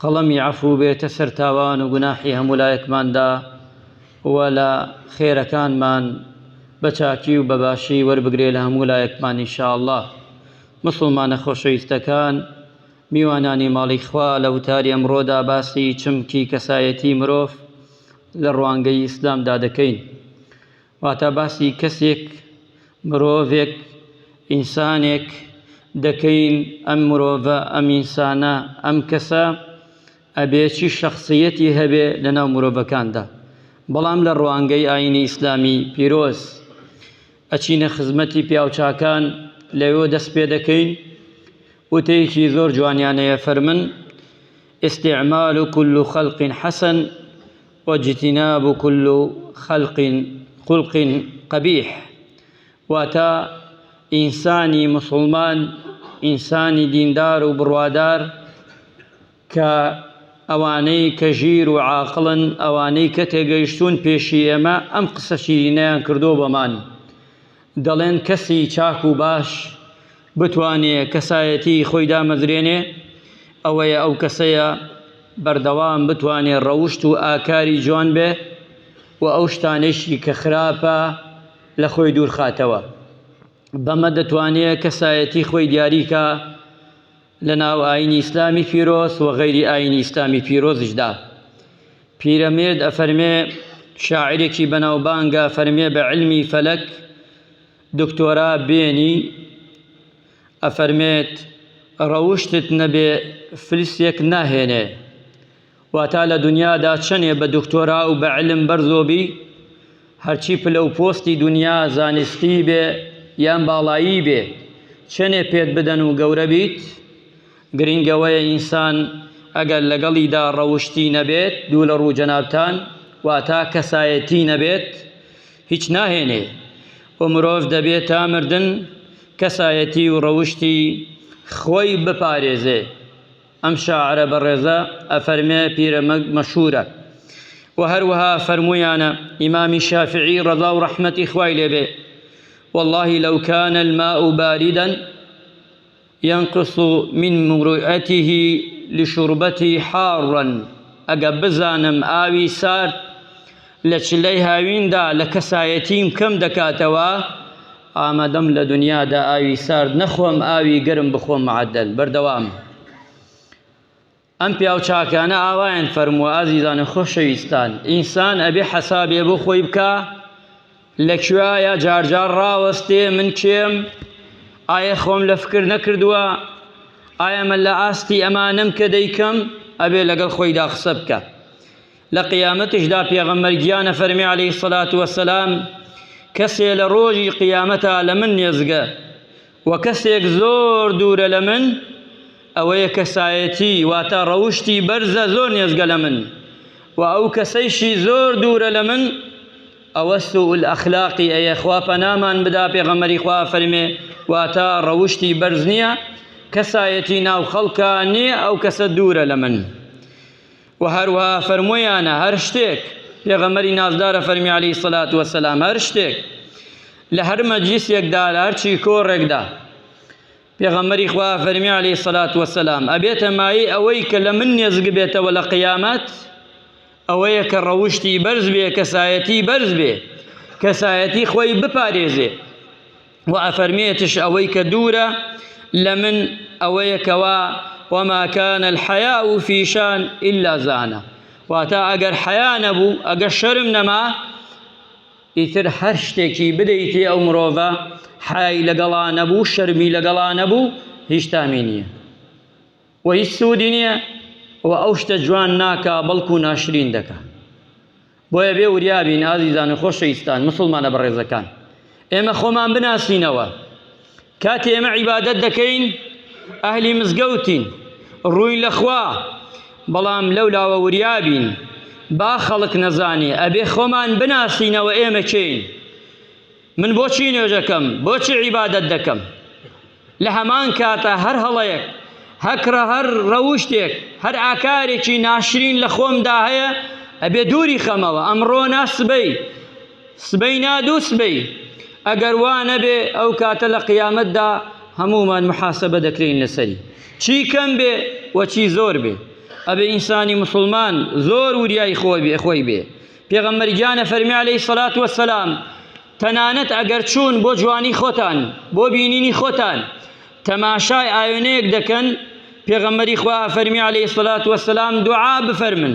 قەڵەمی عەفوو بێتە سەر تاوان و گوناحی هەموولایەکماندا و لە خێرەکانمان بە چاکی و بە باشی وەربگرێ لە هەموولایەکمان ان شاء اللە. موسڵمانە خۆشەویستەکان، میوانانی ماڵی خوا لە وتاری ئەمڕۆدا باسی چمکی کەسایەتی مرۆڤ لە ڕوانگەی ئیسلامدا دەکەین. واتا باسی کەسێک، مرۆڤێک، ئینسانێک، دەکەین، ئەم مرۆڤە، ئەم ئینسانە، ئەم کەسە، ئەبێ چی شەخسیەتی هەبێ لە ناو مرۆڤەکاندا، بەڵام لە ڕوانگەی ئاینی ئیسلامی پیرۆز، ئەچینە خزمەتی پیاوچاکان، لەوێوە دەست پێ دەکەین، وتەیەکی زۆر جوانیان هەیە، فەرمن، استعمال کل خلق حسن، واجتناب کل خلق خلق قبیح واتە ئینسانی موسڵمان ئینسانی دیندار و بڕوادار کە ئەوانەی کە ژیر و عاقڵن ئەوانەی کە تێگەیشتوون پێشی ئێمە ئەم قسە شیرینەیان کردووە بەمان دەڵێن کەسی چاک و باش بتوانێ کەسایەتی خۆی دامەزرێنێ ئەوەیە ئەو کەسەیە بەردەوام بتوانێ ڕەوشت و ئاکاری جوان بێ و ئەو شتانەیشی کە خراپە لە خۆی دوورخاتەوە بەمە دەتوانێ کەسایەتی خۆی دیاری کا. لە ناو ئایینی ئیسلامی پیرۆز و غەیری ئایینی ئیسلامی پیرۆزیشدا. پیرەمێرد ئەفەرمێ، شاعیرێکی بەناوبانگە ئەفەرمێ بە عیلمی فەلەک دکتۆرا بێنی ئەفەرمێت، ڕەوشتت نەبێ فلسێک ناهێنێ. واتا لە دونیادا چەنێ بە دکتۆرا و بە علم بەرزۆ بی، هەرچی پلە و پۆستی دونیا زانستی بێ یان باڵایی بێ، چەنێ پێت بدەن و گەورە بیت، گرینگ ئەوەیە ئینسان ئەگەر لەگەڵیدا ڕەوشتی نەبێت، دوو لە ڕوو جەنابتان، واتا کەسایەتی نەبێت، هیچ ناهێنێ و مرۆڤ دەبێ تا مردن کەسایەتی و ڕەوشتی خۆی بپارێزێ. ئەم شاعرە بەڕێزە ئەفەرمێ پیرەمەگ مەشهوورە و هەروەها فەرموویانە ئیمامی شافعی ڕەزا و ڕەحمەتی خوای لێبێ والله لو كان الماء باردا ينقص من مروءته لشربته حارا ئەگە بزانم ئاوی سارد لە چلەی هاویندا لە کەسایەتیم کەم دەکاتەوە، ئامادەم لە دنیادا ئاوی سارد نەخۆم ئاوی گەرم بخۆم معدل، بەردەوام. ئەم پیاو چاکانە ئاوایان فەرمووە ئازیزانە خۆشەویستان ئینسان ئەبێ حەسابێ بۆ خۆی بکا لە کوێایە جارجار ڕاوەستێ من کێم ئایا خۆم لە فکر نەکردووە ئایا من لە ئاستی ئەمانەم کە دەیکەم ئەبێ لەگەڵ خۆیدا قسە بکە لە قیامەتشدا پێغەمبەر گیانە فەرمی علیه الصلاة والسلام کەسێ لە ڕۆژی قیامەتا لە من نێزگە و کەسێک زۆر دوورە لە من ئەوەیە کەسایەتی واتە ڕەوشتی بەرزە زۆر نێزگە لە من و ئەو کەسەیشی زۆر دوورە لە من ئەوە سوول ئەخلاقی ئەیە خوا پەنامان بدا پێغەمەری خوا فەرمێ واتە ڕەوشتی بەرز نییە کەسایەتی ناو خەڵکە نییە ئەو کەسە دوورە لە من وە هەروەها فەرموویانە هەر شتێک، پێغەمبەری نازدارە فەرمی علیە سەلات وەسەلام هەر شتێک لە هەر مەجلیسێکدا لە هەرچی کۆڕێکدا پێغەمبەری خوا فەرمی علیە سەلات وەسەلام ئەبێتە مایی ئەوەی کە لە من نێزگ بێتەوە لە قیامەت ئەوەیە کە ڕەوشتی بەرز بێ کەسایەتی بەرز بێ کەسایەتی خۆی بپارێزێ و ئەفەرمێتش ئەوەی کە دوورە لە من ئەوەیە کەوا وما كان الحياء في شان إلا زانه واتا ئەگەر حیا نەبوو ئەگەر شەرم نەما ئیتر هەر شتێکی بدەیتی ئەو مرۆڤە حای لەگەڵا نەبوو شەرمی لەگەڵا نەبوو هیچ تامی نییە و هیچ سوودی نییە و ئەو شتە جوان ناکا بەڵکو ناشرین دەکا بۆیە بێ وریا بین ئازیزان و خۆشەویستان مسوڵمانە بەڕێزەکان ئێمە خۆمان بناسینەوە کاتی ئێمە عیبادەت دەکەین ئەهلی مزگەوتین ڕووین لەخوا بەڵام لەو لاوە وریا بین با خەڵک نەزانێ ئەبێ خۆمان بناسینەوە ئێمە چین من بۆچی نوێژەکەم بۆچی عیبادەت دەکەم لە هەمان کاتا هەر هەڵەیەک، هەکڕە، هەر ڕەوشتێک، هەر ئاکارێکی ناشرین لە خۆمدا هەیە، ئەبێ دووری خەمەوە، ئەمڕۆ نا سبەی، سبەی نا دوو سبەی، ئەگەر وا نەبێ ئەو کاتە لە قیامەتدا هەموومان محاسەبە دەکرێین لەسەری، چی کەم بێ و چی زۆر بێ، ئەبێ ئینسانی موسڵمان زۆر وریای خۆی بێ. پێغەمبەر گیان فەرمی علیه الصلاة والسلام تەنانەت ئەگەر چوون بۆ جوانی خۆتان بۆ بینینی خۆتان تەماشای ئاوێنەیەک دەکەن پێغەمبەری خوا فەرمی علیه الصلاة والسلام دوعا بفەرمن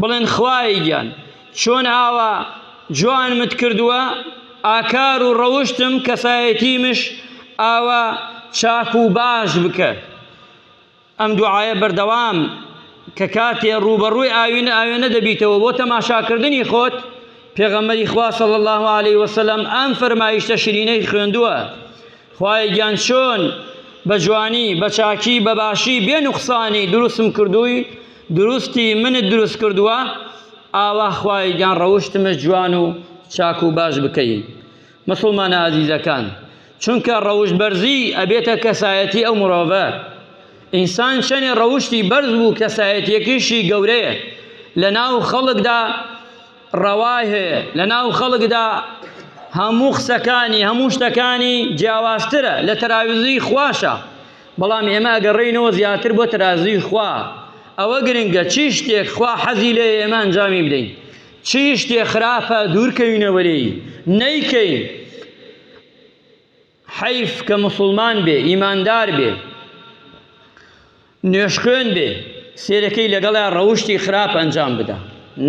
بڵێن خوای گیان چۆن ئاوا جوانمت کردووە ئاکار و ڕەوشتم کەسایەتیمش ئاوا چاک و باش بکە ئەم دوعایە بەردەوام کە کاتێ ڕووبەڕووی ئاوینە ئاوێنە دەبیتەوە بۆ تەماشاکردنی خۆت پێغەمبەری خوا صلی الله علیه و سلم ئەم فەرمایشتە شیرینەی خوێندووە خوای گیان چۆن بە جوانی بە چاکی بە باشی بێ نوقسانی دروستم کردووی دروستی منت دروست کردووە ئاوا خوای گیان ڕەوشتمە جوان و چاک و باش بکەی مسوڵمانە ئازیزەکان چونکە ڕەوشت بەرزی ئەبێتە کەسایەتی ئەو مرۆڤە ئینسان چەنێ ڕەوشتی بەرز بوو کەسایەتیەکیشی گەورەیە لە ناو خەڵکدا ڕەوای هەیە لە ناو خەڵکدا هەموو قسەکانی هەموو شتەکانی جیاوازترە لە تەراویزی خواشە بەڵام ئێمە ئەگەڕێینەوە زیاتر بۆ تەرازوی خوا ئەوە گرنگە چی شتێک خوا حەزی لێ ئێمە ئەنجامی بدەین چی شتێ خراپە دوورکەوینەوە لێی نەیکەین حەیف کە مسلمان بێ ئیماندار بێ نوێشخوێن بێ سێرەکەی لەگەڵا ڕەوشتی خراپ ئەنجام بدا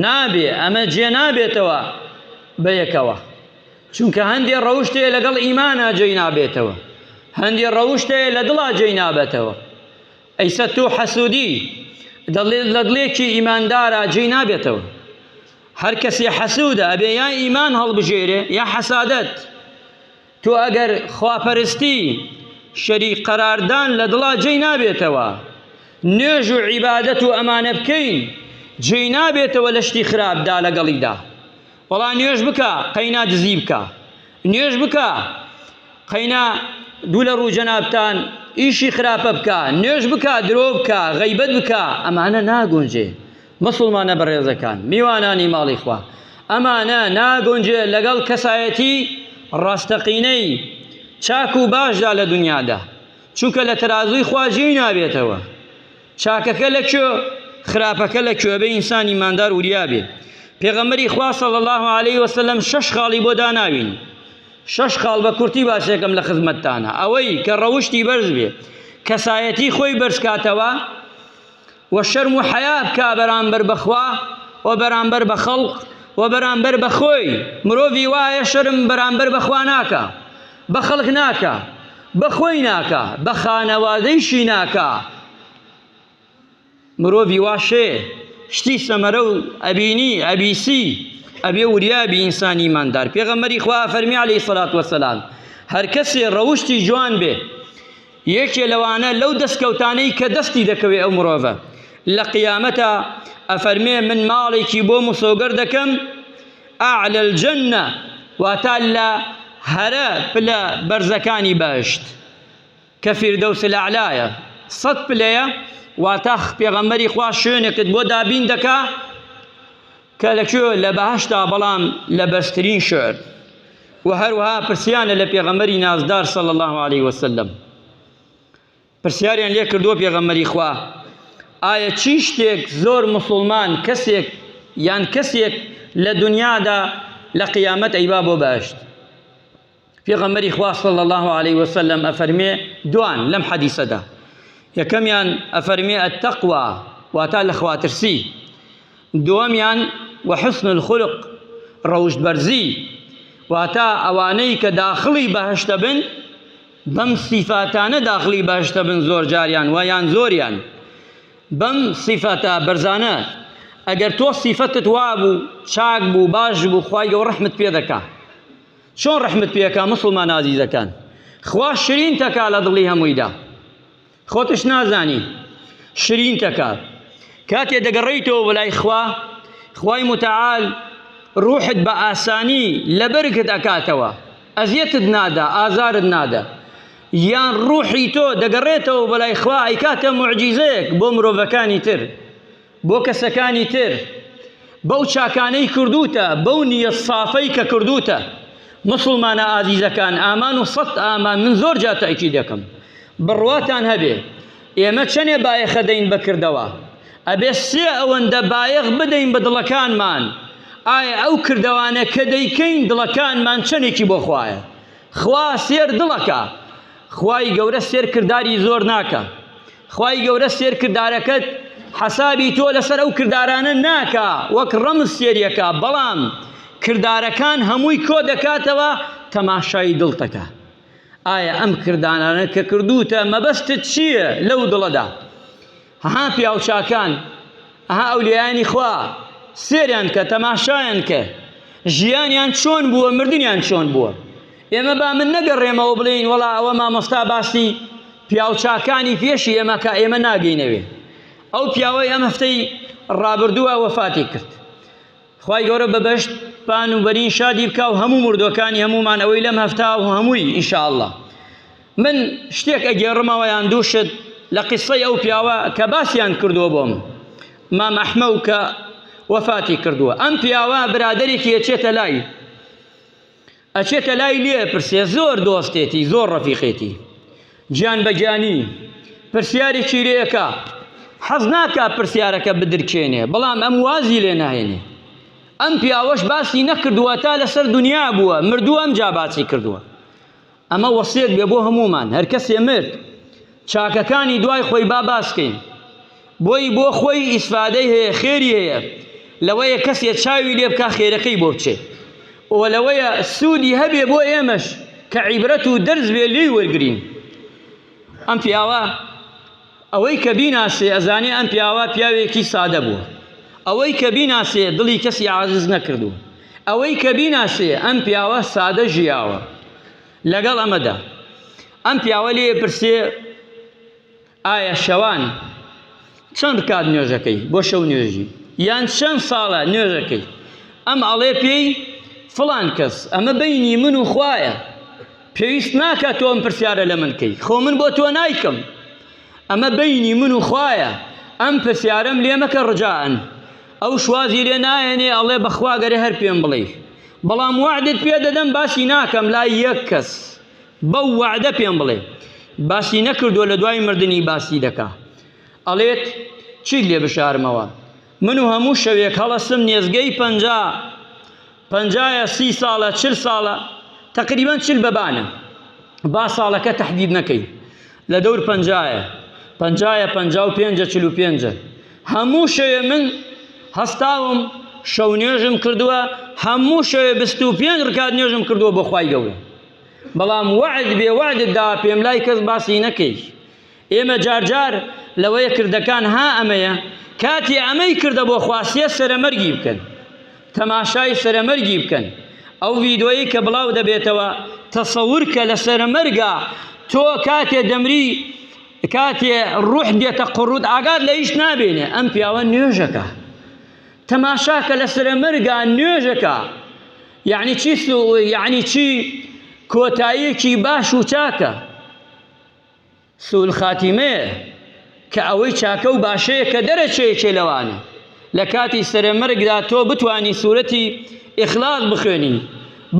نابێ ئەمە جێ نابێتەوە بە یەکەوە چونکە هەندێ ڕەوشتێ لەگەڵ ئیمانە جێی نابێتەوە هەندێ ڕەوشتێ لە دڵا جێی نابێتەوە ئەی سەت و حەسودی لە دڵێکی ئیماندارا جێی نابێتەوە هەر کەسی حەسودە ئەبێ یا ئیمان هەڵبژێرێ یا حەسادەت تۆ ئەگەر خواپەرستی شەری قەراردان لە دڵا جێی نابێتەوە نوێژ و عیبادەت و ئەمانە بکەین جێی نابێتەوە لە شتی خراپدا لەگەڵیدا بەڵا نوێژ بکە قەینا دزی بکە نوێژ بکە قەینا دوو لە ڕوو جەنابتان ئیشی خراپە بکە نوێژ بکە درۆ بکە غەیبەت بکە ئەمانە ناگونجێ مسلمانە بەڕێزەکان میوانانی ماڵی خوا ئەمانە ناگونجێ لەگەڵ کەسایەتی ڕاستەقینەی چاک و باشدا لە دنیادا چونکە لە تەرازووی خوا جێی نابێتەوە چاکەکە لە کوێ خراپەکە لە کوێ بێ ئینسان ئیماندار وریا بێ پێغەمبەری خوا صلی الله علیه و سلم شش خاڵی بۆ داناوین شش خاڵ بە کورتی باسێکم لە خزمەتتانە ئەوەی کە ڕەوشتی بەرز بێ کەسایەتی خۆی بەرزکاتەوە و شەرم و حەیا بکا بەرامبەر بەخوا و بەرامبەر بە خەڵق و بەرامبەر بەخۆی مرۆڤی وایە شەرم بەرامبەر بەخوا ناکە بە خەڵک ناکا بە خۆی ناکا بە خانەوادەیشی ناکا مرۆڤی واشێ شتی سەمەرە و ئەبینی ئەبیسی ئەبێ وریابی ئینسانی ماندار پێغەمەری خوا فەرمی عليه سەلات وەسەلام هەر کەسێ ڕەوشتی جوان بێ یەکێ لەوانە لەو دەستکەوتانەی کە دەستی دەکەوێ ئەو مرۆڤە لە قیامەتە ئەفەرمێ من ماڵێکی بۆ مسۆگەر دەکەم اعلی الجنە، واتە لە هەرە پلە بەرزەکانی بەهەشت، کە فیردەوس الاعلایە، سەد پلەیە، واتە پێغەمبەری خوا شوێنێکت بۆ دابین دەکا کە لە کوێ؟ لە بەهەشتا، بەڵام لە بەرزترین شوێن. وە هەروەها پرسیانە لە پێغەمبەری نازدار صلی اللە علیە وسلم. پرسیاریان لێ کردووە پێغەمبەری خوا ئایا چی شتێک زۆر مسوڵمان کەسێک یان کەسێک لە دنیادا لە قیامەت ئەیبا بۆ بەهشت پێغەمبەری خوا صلی الله علیه وسلم ئەفەرمێ دوان لەم حەدیسەدا یەکەمیان ئەفەرمێ التقوا واتا لە خواترسی دووەمیان وحسن الخلق ڕەوشت بەرزی واتا ئەوانەی کە داخڵی بەهشتە بن بەم سیفاتانە داخلی بەهەشت دەبن زۆر جاریان و یان زۆریان بەم سیفەتە بەرزانە ئەگەر تۆ سیفەتت وابوو چاک بوو باش بوو خی گەو ڕحمت پێ دەکا چۆن ڕحمت پێکا مسلمان نازیزەکان خوا شرین تەکا لە دڵی هەموویدا خۆتش نازانی شرینت ئەکات. کاتێ دەگەڕێیتەوە بۆ لای خوا، خوای متعال ڕوحت بە ئاسانی لەبەرگت ئەکاتەوە، ئەزیەتت نادا، ئازارت نادا. یان ڕوحی تۆ دەگەڕێتەوە بۆ لای خوا ئەیکاتە موعجیزەیەک بۆ مرۆڤەکانی تر. بۆ کەسەکانی تر بەو چاکانەی کردوتە بەو نیە سافەی کە کردوتە مسلمانە ئازیزەکان ئامان و سەد ئامان من زۆر جا تاکی دەکەم بڕواتان هەبێ ئێمە چەنێ بایەخە دەین بەکردەوە ئەبێ سێ ئەوەندە بایەخ بدەین بە دڵەکانمان ئایا ئەو کردوانە کە دەیکەین دڵەکانمان چەندێکی بۆ خوایە خوا سێر دڵەکە خوای گەورە سێر کردداری زۆر ناکە خوای گەورە سێر کردارەکەت حەسابی تۆ لەسەر ئەو کردارانە ناکا وەک ڕەمز سێریەکە بەڵام کردارەکان هەمووی کۆ دەکاتەوە تەماشای دڵتەکە ئایا ئەم کردانانە کە کردوتە مەبەستت چییە لەو دڵەدا ها پیاوچاکان ئەها ئەولیانی خوا سێریان کە تەماشایان کە ژیانیان چۆن بووە مردیان چۆن بووە ئێمە با من نەگەڕێمەوە بڵێین وەڵا ئەوە مامۆستا باسی پیاوچاکانی پێشی ئێمە کە ئێمە ناگەینەوێ ئەو پیاوەی ئەم هەفتەی ڕابردووە وەفاتی کرد خی گەورە بەبەشت پان و بەرین شادی بکە و هەموو مردوەکانی هەمومان ئەوەی لەم هەفتا و هەمووی ئینشاءله من شتێک ئەگێڕمەوە یان دووشت لە قسەی ئەو پیاوە کە باسییان کردووە بۆم مام ئەحمە و کە وەفاتی کردووە ئەم پیاوە برادێکی یەچێتە لای ئەچێتە لای لێ ئەپرسێ زۆر دۆستێتی زۆر ڕەفیقێتی گیان بە گیانی پرسیارێکی لێ ئەکا حەز ناکا پرسیارەکە بدرکێنێ بەڵام ئەم وازی لێ ناهێنێ ئەم پیاوەش باسی نەکردووە تا لەسەر دنیا بووە مردووە ئەم جا باسی کردووە ئەمە وەسیەت بێ بۆ هەمومان هەر کەسێ مرد چاکەکانی دوای خۆی با باسکەین بۆیی بۆ خۆی ئیسفادەی هەیە خێری هەیە لەوەیە کەسێ چاوی لێ بکا خێرەکەی بۆ بچێ و لەوەیە سوودی هەبێ بۆ ئێمەش کە عیبرەت و دەرس بێ لێی وەرگرین ئەم پیاوە ئەوەی کە بیناسێ ئەزانێ ئەم پیاوە پیاوێکی سادە بوو ئەوەی کە بیناسێ دڵی کەسی عازز نەکردو ئەوەی کە بیناسێ ئەم پیاوە سادە ژیاوە لەگەڵ ئەمەدا ئەم پیاوە لێ پرسێ ئایا شەوان چەند کات نوێژەکەی بۆ شەو نوێژی یان چەند ساڵە نوێژەکەی ئەم ئەڵێ پێی فڵان کەس ئەمە بینی من و خوایە پێویست ناکە تۆم پرسیارە لە من کەی خۆ من بۆ تۆ نایکەم ئەمە بینی من و خوایە ئەم پرسیارم لێمەکە ڕجاان ئەو شوازی لێ نایەنێ ئەڵێ بەخواگەرە هەر پێم بڵێ بەڵام وعدت پێ دەدەم باسی ناکەم لای یەک کەس بەو وەعدە پێم بڵێ باسی نەکردووە لە دوای مردنی باسی دەکا ئەڵێت چیت لێ بشارمەوە من و هەموو شەوێک هەڵەستم نێزگەی پەنجا پەنجایە سی ساڵە چل ساڵە تقریبان چل بەبانە با ساڵەکە تهدید نەکەی لە دەور پەنجایە پەنجایە پەنجا و پێنجە چل و پێنجە هەموو شەوێ من هەستاوم شەو نوێژم کردووە هەموو شەوێ بست و پێنج ڕکات نوێژم کردووە بۆ خوای گەورە بەڵام وەعد بێ وەعدت داوە پێم لای کەس باسی نەکەی ئێمە جار جار لەوەیە کردەکان ها ئەمەیە کاتی ئەمەی کردە بۆ خواستیە سەرەمەرگی بکەن تەماشای سەرەمەرگی بکەن ئەو ڤیدۆیی کە بڵاو دەبێتەوە تەسەور کە لە سەرەمەرگا تۆ کاتێ دەمری کاتێ ڕوح دێتە قڕوت ئاگات لە هیچ نابێنێ ئەم پیاوە نوێژەکە تەماشا کە لە سرە مەرگا نوێژەکە یعنی چی سو یعنی چی کۆتاییەکی باش و چاکە سول خاتیمەیە کە ئەوەی چاکە و باشەیە کە دەرەچەیەکێ لەوانە لە کاتی سرە مەرگدا تۆ بتانی سوورەتی ئیخلاق بخوێنی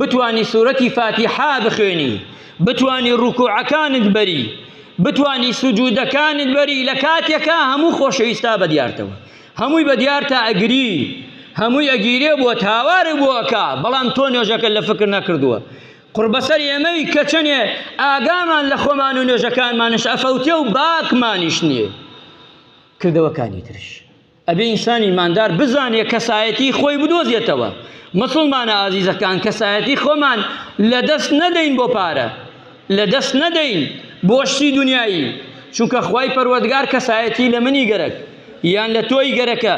بتانی سوورەتی فاتیحا بخوێنی بتانی ڕوکوعەکانت بەری بتانی سوجودەکانت بەری لە کاتێکا هەموو خۆشەویستا بە دیارتەوە هەمووی بە دیارتە ئەگری هەمووی ئەگیرێ بۆت هاوارێ بۆ ئەکا بەڵام تۆ نوێژەکە لە فکر نەکردووە قڕبەسەر ئێمەی کە چەنێ ئاگامان لە خۆمان و نوێژەکانمانش ئەفەوتێ و باکمانیش نییە کردەوەکانی ترش ئەبێ ئینسانی ماندار بزانێ کەسایەتی خۆی بدۆزێتەوە مسلمانە ئازیزەکان کەسایەتی خۆمان لەدەست نەدەین بۆ پارە لەدەست نەدەین بۆ شتی دونیایی، چونکە خوای پەروەردگار کەسایەتی لە منی گەرەک یان لە تۆی گەرەکە،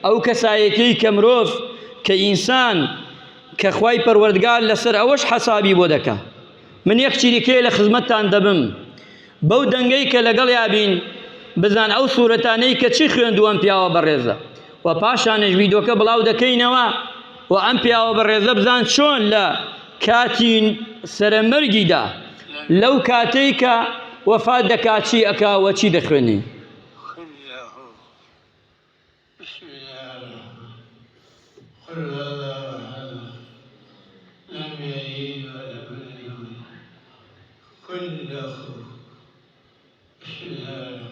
ئەو کەسایەتیەی کە مرۆڤ کە ئینسان کە خوای پەروەردگار لەسەر ئەوەش حەسابی بۆ دەکا. من یەک چیرکەیە لە خزمەتتان دەبم بەو دەنگەی کە لەگەڵیا بین بزان ئەو سورەتانەی کە چی خوێندوە ئەم پیاوە بەڕێزە و پاشانش ویدۆکە بڵاو دەکەینەوە و ئەم پیاوە بەڕێزە بزان چۆن لە کاتی سەرەمەرگیدا لەو کاتەی کە وەفات دەکات چی ئەکا و چی دەخوێنی كل أخوه بسم الله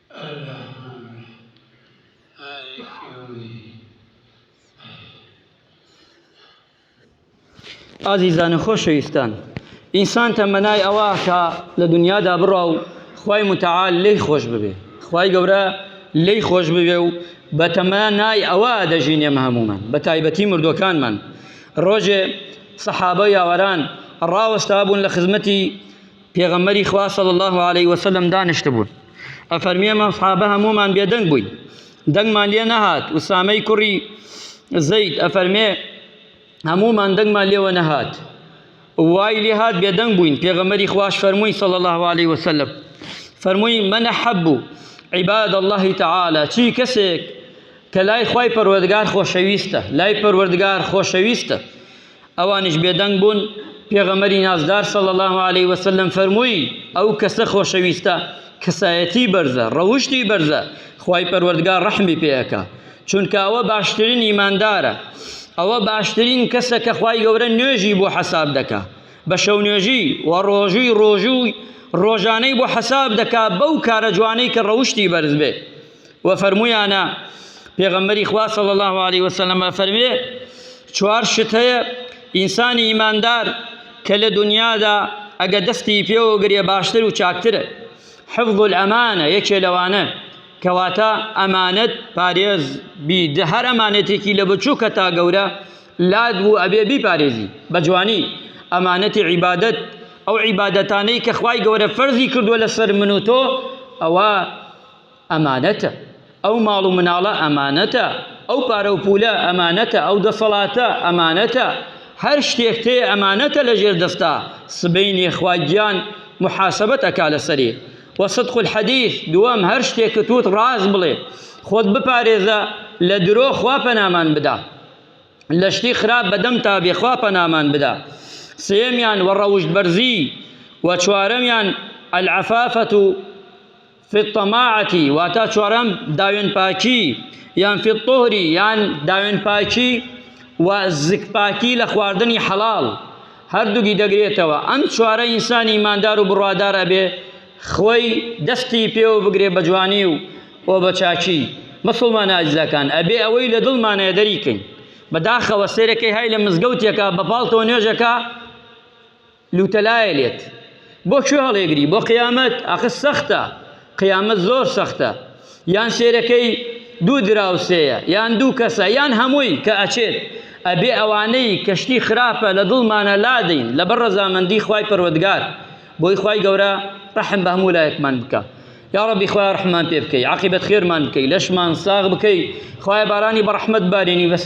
ئازیزان و خۆشەویستان ئینسان تەمەنای ئەوە کە لە دنیادا بڕا و خی متعاال لی خۆش ببێ خی گەورە لی خۆش ببێ و بە تەمەنای ئەوە دەژینێم هەمومان بە تایبەتی مردوەکانمان ڕۆژێ سەحابە یاوەران ڕاوەستا بوون لە خزمەتی پێغەمبەری خوا صلی اللە علیە وسلم دانیشتبوون ئەفەرمێ من صحابە هەموومان بێدەنگ بووین دەنگمان لێ نەهات وسامەی کوڕی زەید ئەفەرمێ هەموومان دەنگمان لێوە نەهات وای لێ هات بێدەنگ بووین پێغەمبەری خواش فەرمووی صلی اللە علیه وسلم فەرمووی من احب عباد الله تعالی چی کەسێک کە لای خوای پەروەردگار خۆشەویستە لای پەروەردگار خۆشەویستە ئەوانیش بێدەنگ بوون، پێغەمبەری نازدار صلی اللە علیە وسلم فەرمووی، ئەو کەسە خۆشەویستە کەسایەتی بەرزە، ڕەوشتی بەرزە، خوای پەروەردگار ڕەحمی پێ ئەکا، چونکە ئەوە باشترین ئیماندارە، ئەوە باشترین کەسە کە خوای گەورە نوێژی بۆ حەساب دەکا، بە شەو نوێژی و ڕۆژووی ڕۆژووی ڕۆژانەی بۆ حەساب دەکا بەو کارە جوانەی کە ڕەوشتی بەرز بێ. وە فەرموویانە، پێغەمبەری خوا صلی اللە علیە وسلم ئەفەرموێ، چوار شت هەیە ئینسانی ئیماندار کە لە دنیادا ئەگە دەستی پێوە گرێ باشتر و چاکترە، حفظ الامانە یەکێ لەوانە، کەواتە ئەمانەت پارێز بی، هەر ئەمانەتێکی لە بچووکە تا گەورە لات بوو ئەبێ بیپارێزی بە جوانی، ئەمانەتی عیبادەت، ئەو عیبادەتانەی کە خوای گەورە فەرزی کردووە لەسەر من و تۆ ئەوە، ئەمانەتە، ئەو ماڵ و مناڵە ئەمانەتە، ئەو پارە و پوولە ئەمانەتە، ئەو دەسەڵاتە ئەمانەتە، هەر شتێکت هەیە ئەمانەتە لە ژێر دەستا، سبەینێ خوا گیان موحاسەبەت ئەکا لەسەری. وە صدق الحدیث، دووەم هەر شتێکت وت ڕاست بڵێ، خۆت بپارێزە لە درۆ خوا پەنامان بدا، لە شتی خراپ بە دەمتا بێ خوا پەنامان بدا. سێیەمیان، وە ڕەوشت بەرزی، وە چوارەمیان، العفافە، فی الطماعەتی واتا چوارەم داوێن پاکی یان فی الطهری یان داوێن پاکی و زک پاکی لە خواردنی حەڵاڵ هەردووگی دەگرێتەوە ئەم چوارە ئینسانی ئیماندار و بڕوادار ئەبێ خۆی دەستی پێوە بگرێ بە جوانی و و بە چاکی مسلمان ئازیزەکان ئەبێ ئەوەی لە دڵمانەیە دەریکەین بەداخەوە سێرەکەی های لە مزگەوتێکە بە پاڵتەوە نوێژەکە لوتەلایە لێت بۆ کوێ هەڵێگری بۆ قیامەت ئاخە سەختە قیامەت زۆر سەختە یان سێرەکەی دوو دراوسێیە یان دوو کەسە یان هەمووی کە ئەچێت ئەبێ ئەوانەی کەشتی خراپە لە دڵمانە لادەین لەبەر ڕەزامەندی خوای پەروەردگار بۆی خوای گەورە ڕەحم بە هەموو لایەکمان بکە یا ڕەبی خوای ڕحمان پێ بکەی عاقبەت خێرمان بکەی لەشمان ساغ بکەی خوای بارانی بەڕحمەت بارێنی بەسەر